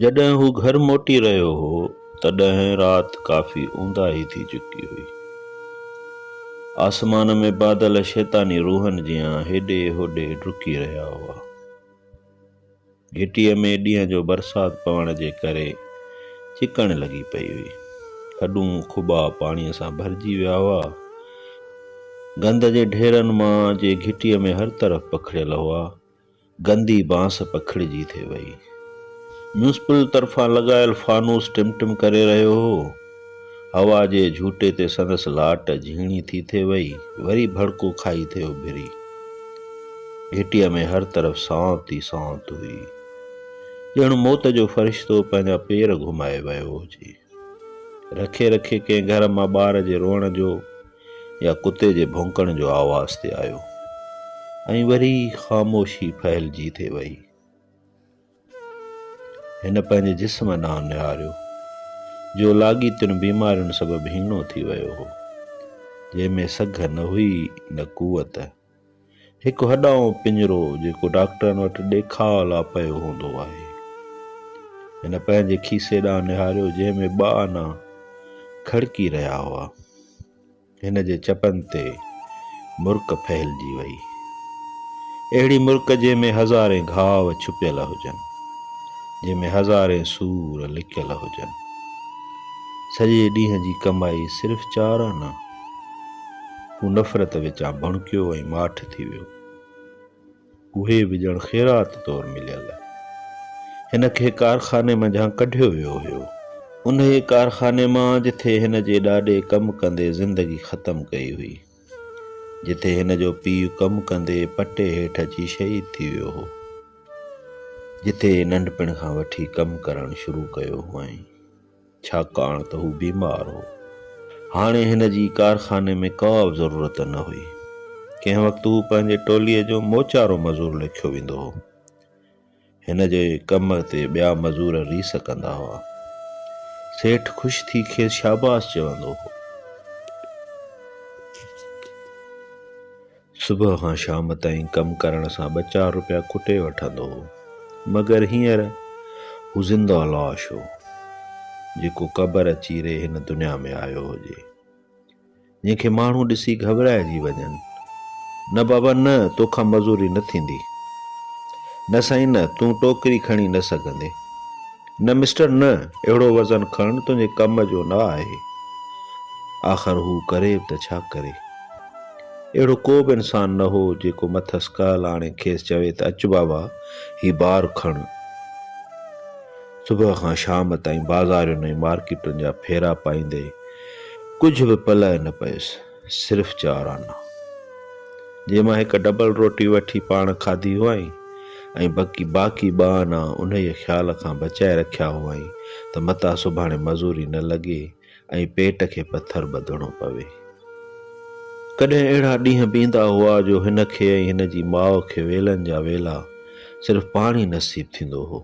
جڏهن هو گهر موٽي رهيو هو، تڏهن رات ڪافي اونداهي ٿي چڪي هئي. آسمان ۾ بادل شيطاني روحن جيان هيڏي هوڏي ڊڪي رهيا هئا. گهٽيء ۾ ڏينهن جو برسات پوڻ جي ڪري چڪڻ لڳي پئي هئي. کڏون کٻا پاڻيء سان ڀرجي ويا هئا. گند جي ڍيرن مان جي گهٽيء ۾ هر طرف پکڙيل هئا، گندي بانس پکڙجي ٿي وئي. ميونسپل طرفان لڳايل فانوس ٽم ٽم ڪري رهيو هو. هوا جي جهوٽي تي سندس لاٽ جهيڻي ٿي ٿي وئي، وري ڀڙڪو کائي ٿي اڀري. گهٽيء ۾ هر طرف سانت ئي سانت هئي. ڄڻ موت جو فرشتو پنهنجا پير گهمائي ويو هجي. رکي رکي ڪنهن گهر مان ٻار جي روئڻ جو يا ڪتي جي ڀونڪڻ جو آواز تي آيو ۽ وري خاموشي ڦهلجي ٿي وئي. هن پنهنجي جسم ڏانهن نهاريو، جو لاڳيتين بيمارين سبب هيڻو ٿي ويو هو، جنهن ۾ سگهه نه هئي نه قوت. هڪ هڏائون پڃرو جيڪو ڊاڪٽرن وٽ ڏيکاء لا پيو هوندو آهي. هن پنهنجي کيسي ڏانهن نهاريو جنهن ۾ ٻه آنا کڙڪي رهيا هئا. هن جي چپن تي مرڪ ڦهلجي وئي. اهڙي مرڪ جنهن ۾ هزارين گهاء ڇپيل هجن. جنهن ۾ هزارين سور لڪيل هجن. سڄي ڏينهن جي ڪمائي صرف چار آنا. هو نفرت وچان ڀڻڪيو ۽ ماٺ ٿي ويو. اهي به ڄڻ خيرات طور مليل. هن کي ڪارخاني منجهان ڪڍيو ويو هيو. انهيء ڪارخاني مان جٿي هن جي ڏاڏي ڪم ڪندي زندگي ختم ڪئي هئي. جٿي هن جو پيء ڪم ڪندي پٽي هيٺ اچي شهيد ٿي ويو هو. جٿي ننڍپڻ کان وٺي ڪم ڪرڻ شروع ڪيو هئائين. ڇاڪاڻ ته هو بيمار هو. هاڻي هن جي ڪارخاني ۾ ڪا به ضرورت نه هئي. ڪنهن وقت هو پنهنجي ٽوليء جو موچارو مزور ليکيو ويندو هو. هن جي ڪم تي ٻيا مزور ريس ڪندا هئا. سيٺ خوش ٿي کيس شاباس چوندو هو. صبح کان شام تائين ڪم ڪرڻ سان ٻه چار روپيا ڪٽي وٺندو هو، مگر هينئر هو زنده لاش هو، جيڪو قبر چيري هن دنيا ۾ آيو هجي. جنهن کي ماڻهو ڏسي گهٻرائجي وڃن، نه بابا نه، تو کان مزوري نه ٿيندي. نه سائين نه، تون ٽوڪري کڻي نه سگهندين. نه مسٽر نه، اهڙو وزن کڻڻ تنهنجي ڪم جو نه آهي. آخر هو ڪري به ته ڇا ڪري؟ اهڙو ڪو به انسان نه هو، جيڪو مٿس ڪهل آڻي کيس چوي ته اچ بابا، هي بار کڻ. صبح کان شام تائين بازارين ۽ مارڪيٽن جا ڦيرا پائيندي، ڪجهه به پلئه نه پيس، صرف چار آنا، جنهن مان هڪ ڊبل روٽي وٺي پاڻ کاڌي هئائين ۽ بقي باقي ٻه آنا انهيء خيال کان بچائي رکيا هئائين ته متان سڀاڻي مزوري نه لڳي ۽ پيٽ کي پٿر ٻڌڻو پوي. ڪڏهن اهڙا ڏينهن به ايندا هئا جو هن کي ۽ هن جي ماء کي ويلن جا ويلا صرف پاڻي نصيب ٿيندو هو.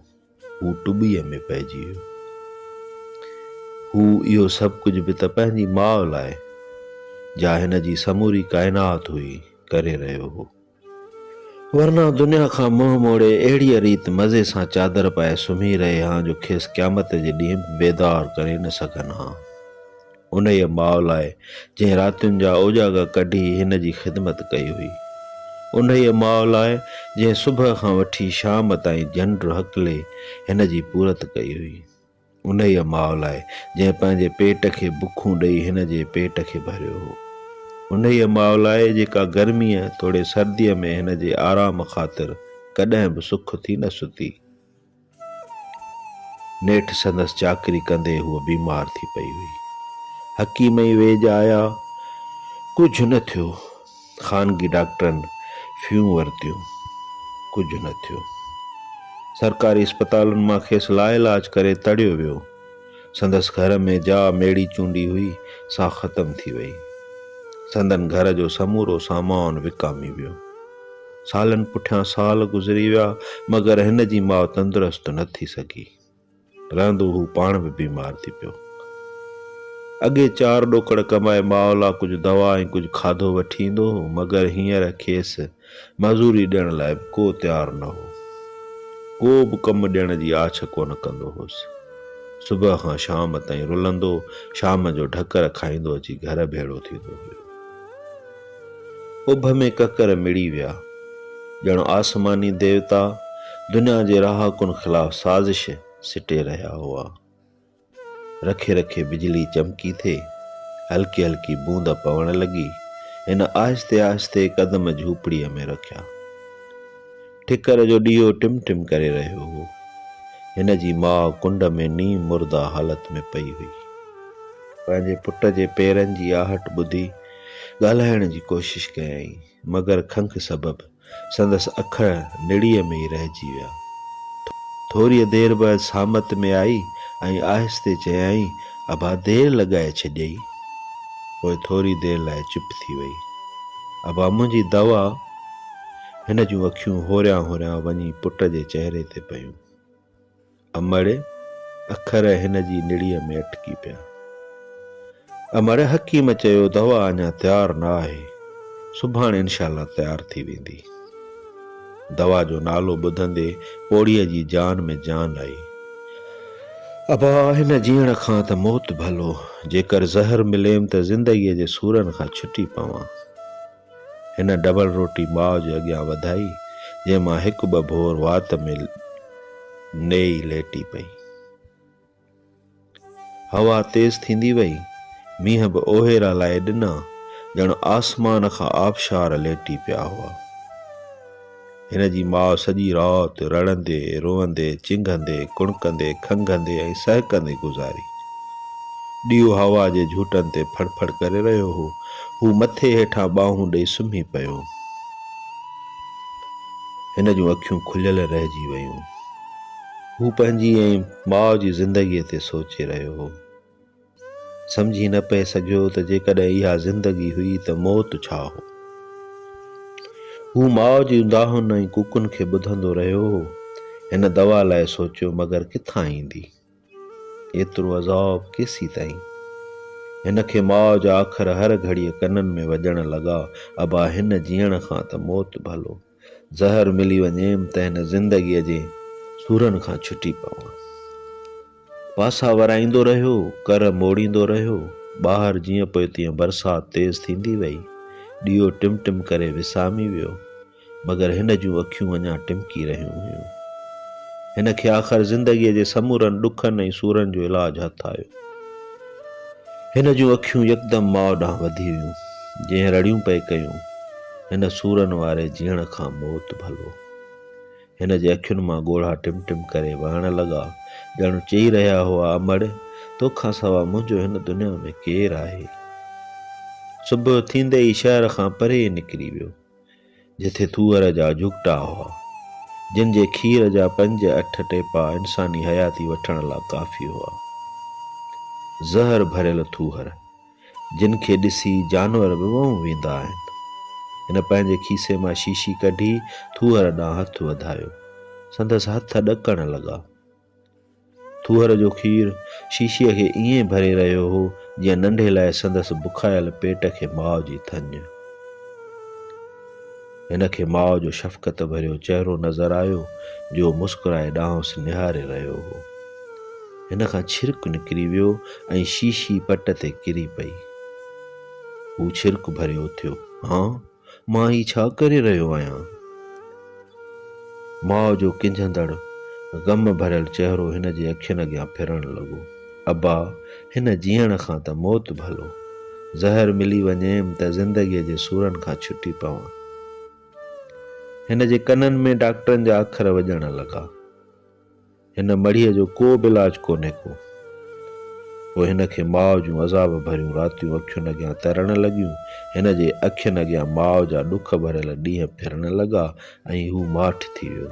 هو ٽٻيء ۾ پئجي ويو. هو اهو سڀ ڪجهه به ته پنهنجي ماء لاء، جا هن جي سموري ڪائنات هئي، ڪري رهيو هو. ورنه دنيا کان منهن موڙي اهڙيء ريت مزي سان چادر پائي سمهي رهي ها جو کيس قيامت جي ڏينهن به بيدار ڪري نه سگهن ها. انهيء ماء لاء جنهن راتين جا اوجاڳا ڪڍي هن جي خدمت ڪئي هئي. انهيء ماء لاء جنهن صبح کان وٺي شام تائين جنڊ هڪلي هن جي پورت ڪئي هئي. انهيء ماء لاء، جنهن پنهنجي پيٽ کي بکون ڏيئي هن جي پيٽ کي ڀريو هو. انهيء ماء لاء، جيڪا گرميء توڙي سرديء ۾ هن جي آرام خاطر ڪڏهن به سک ٿي نه ستي. نيٺ سندس چاڪري ڪندي هوء بيمار ٿي پئي هئي. حڪيم ۽ ويڄ آيا، ڪجهه نه ٿيو. خانگي ڊاڪٽرن فيون ورتيون، ڪجهه نه ٿيو. سرڪاري اسپتالن مان کيس لاعلاج ڪري تڙيو ويو. سندس گهر ۾ جا ميڙي چونڊي هئي، سا ختم ٿي وئي. سندن گهر جو سمورو سامان وڪامي ويو. سالن پٺيان سال گذري ويا، مگر هن جي ماء تندرست نه ٿي سگهي. رهندو هو پاڻ به بيمار ٿي پيو. اڳي چار ڏوڪڙ ڪمائي ماء لا ڪجهه دوا ۽ ڪجهه کاڌو وٺي ايندو هو مگر هينئر کيس مزوري ڏيڻ لاء به ڪو تيار نه هو. ڪو به ڪم ڏيڻ جي آڇ ڪونه ڪندو هوس. صبح کان شام تائين رلندو شام جو ڍڪر کائيندو اچي گهر ڀيڙو ٿيندو هيو. اڀ ۾ ڪڪر مڙي ويا، ڄڻ آسماني ديوتا دنيا جي رهاڪن خلاف سازش سٽي رهيا هئا. رکي رکي بجلي چمڪي ٿي، هلڪي هلڪي بوند پوڻ لڳي، هن آهستي آهستي قدم جهوپڙيء ۾ رکيا. ٺڪر جو ڏيئو ٽم ٽم ڪري رهيو هو. هن جي ماء ڪنڊ ۾ نيم مرده حالت ۾ پئي هئي. پنهنجي پٽ جي پيرن جي آهٽ ٻڌي، ڳالهائڻ جي ڪوشش ڪيائين، مگر کنک سبب سندس اکر نڙيء ۾ ئي رهجي ويا. ٿوريء دير بعد سامت ۾ آئي ۽ آهستي چيائين، ابا دير لڳائي ڇڏيئي. پوء ٿوري دير لاء چپ ٿي ويئي. ابا منهنجي دوا. هن جون اکيون هوريان هوريان وڃي پٽ جي چهري تي پيون. امڙ اکر هن جي نڙيء ۾ اٽڪي پيا. امڙ حڪيم چيو دوا اڃا تيار نه آهي، سڀاڻ انشاء الله تيار ٿي ويندي. دوا جو نالو ٻڌندي پوڙهيء جي جان ۾ جان آئي. ابا هن جيئڻ کان ته موت ڀلو، جيڪر زهر مليم ته زندگيء جي سورن کان ڇٽي پوان. هن ڊبل روٽي ماء جي اڳيان وڌائي، جنهن مان هڪ ٻه ڀور وات ۾ نيئي ليٽي پئي. هوا تيز ٿيندي وئي، مينهن به اوهيرا لائي ڏنا، ڄڻ آسمان کان آبشار ليٽي پيا هئا. هن جي ماء سڄي رات رڙندي، روئندي، چنگهندي، ڪڻڪندي، کنگهندي ۽ سهڪندي گذاري. ڏيئو هوا جي جهوٽن تي ڦڙ ڦڙ ڪري رهيو هو. هو مٿي هيٺان ٻانهون ڏئي سمهي پيو. هن جون اکيون کليل رهجي ويون. هو پنهنجي ۽ ماء جي زندگيء تي سوچي رهيو هو. سمجهي نه پئي سگهيو ته جيڪڏهن اها زندگي هئي ته موت ڇا هو. هو ماء جي اونداهن ۽ ڪوڪن کي ٻڌندو رهيو هو. هن دوا لاء سوچيو مگر ڪٿان ايندي؟ ايترو عذاب ڪيسين تائين؟ هن کي ماء جا اکر هر گهڙيء ڪنن ۾ وڄڻ لڳا، ابا هن جيئڻ کان ته موت ڀلو. زهر ملي وڃيم ته هن زندگيء جي سورن کان ڇٽي پوان. پاسا ورائيندو رهيو، ڪر موڙيندو رهيو. ٻاهر جيئن پوء تيئن برسات تيز ٿيندي ويئي. ڏيئو ٽم ٽم ڪري وسامي ويو. مگر هن جون اکيون اڃا ٽمڪي رهيون هيون. هن کي آخر زندگيء جي سمورن ڏکن ۽ سورن جو علاج هٿ آيو. هن جون اکيون يڪدم ماء ڏانهن وڌي ويون، جنهن رڙيون پئي ڪيون، هن سورن واري جيڻ کان موت ڀلو. هن جي اکين مان ڳوڙها ٽم ٽم ڪري وهڻ لڳا، ڄڻ چئي رهيا هئا، امڙ! تو کان سوا منهنجو هن دنيا ۾ ڪير آهي؟ صبح ٿيندي ئي شهر کان پري نڪري ويو. جتي ٿوئر جا جهڳٽا هئا، جن جي کير جا پنج اٺ ٽيپا انساني حياتي وٺڻ لا ڪافي هئا. زهر ڀريل ٿوهر، جن کي ڏسي جانور به وهون ويندا آهن. هن پنهنجي کيسي مان شيشي ڪڍي ٿوهر ڏانهن هٿ وڌايو. سندس هٿ ڏڪڻ لڳا. ٿوهر جو کير شيشي کي ائين ڀري رهيو هو جيئن ننڍي لاء سندس بکايل پيٽ کي ماء جي ٿڃ. هن کي ماء جو شفقت ڀريو چهرو نظر آيو جو مسڪرائي ڏانهنس نهاري رهيو هو. هن کان ڇرڪ نڪري ويو ۽ شيشي پٽ تي ڪري پئي. هو ڇرڪ ڀريو اٿيو، هان! مان هي ڇا ڪري رهيو آهيان؟ ماء جو ڪنجهندڙ غم ڀريل چهرو هن جي اکين اڳيان ڦرڻ لڳو. ابا! هن جيئڻ کان ته موت ڀلو. زهر ملي وڃيم ته زندگيء جي سورن کان ڇٽي پوان. هن جي ڪنن ۾ ڊاڪٽرن جا اکر وڄڻ لڳا. هن مڙهيء جو ڪو به علاج ڪونهي ڪو. پوء هن کي ماء جون عذاب ڀريون راتيون اکين اڳيان ترڻ لڳيون. هن جي اکين اڳيان ماء جا ڏک ڀريل ڏينهن ڦرڻ لڳا ۽ هو ماٺ ٿي ويو.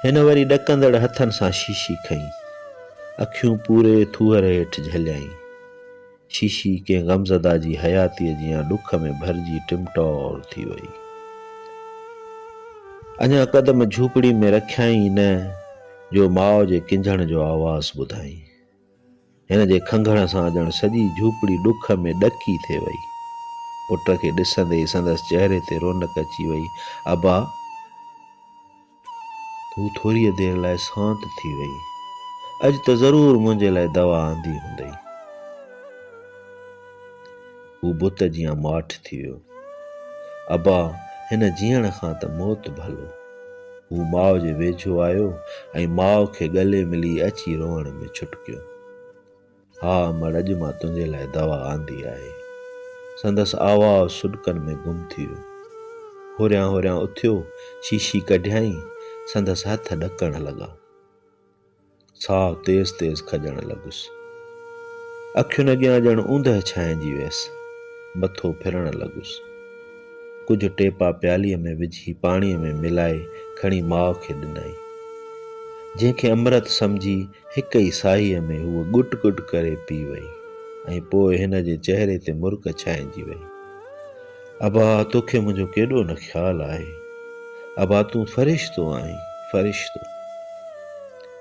هن وري ڏڪندڙ هٿن سان شيشي کنئي. اکيون پوري ٿوهر هيٺ جهليائين. شيشي ڪنهن غمزده جي حياتيء جيان ڏک ۾ ڀرجي ٽم ٽور ٿي وئي. اڃا قدم جهوپڙي ۾ رکيائين ئي نه جو ماء جي ڪنجهڻ جو آواز ٻڌائين. هن جي کنگهڻ سان ڄڻ سڄي جهوپڙي ڏک ۾ ڏڪي ٿي وئي. پٽ کي ڏسندي ئي سندس چهري تي رونق اچي وئي. ابا! تون ٿوريء دير لاء سانت ٿي وئين. اڄ ته ضرور منهنجي لاء دوا آندي هوندئي. هو بت جيان ماٺ ٿي ويو. ابا هن جيئڻ کان ته موت ڀلو. هو ماء جي ويجهو آيو ۽ ماء کي ڳلي ملي اچي روئڻ ۾ ڇٽڪيو. ها امڙ اڄ مان تنهنجي لاء دوا آندي آهي. سندس آواز سڏڪن ۾ گم ٿي ويو. هوريان هوريان اٿيو شيشي ڪڍيائين سندس هٿ ڏڪڻ لڳا. ساهه تيز تيز کڄڻ لڳس. اکين اڳيان ڄڻ اوندهه ڇانئجي ويس. مٿو ڦرڻ لڳس. ڪجهه ٽيپا پيالي ۾ وجهي پاڻي ۾ ملائي کڻي ماء کي ڏنائين. جنهن کي امرت سمجهي هڪ ئي ساهيء ۾ هوء ڳٽ ڳٽ ڪري پي وئي ۽ پوء هن جي چهري تي مرڪ ڇائنجي وئي. ابا، توکي منهنجو ڪيڏو نه خيال آهي. ابا، تون فرشتو آهين، فرشتو.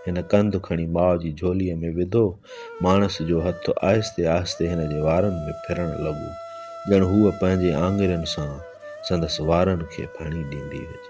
هن ڪنڌ کڻي ماء جي جهوليء ۾ وڌو. ماڻس جو هٿ آهستي آهستي هن جي وارن ۾ ڦرڻ لڳو، ڄڻ هوء پنهنجي آڱرين سان سندس وارن کي ڦڻي ڏيندي هجي.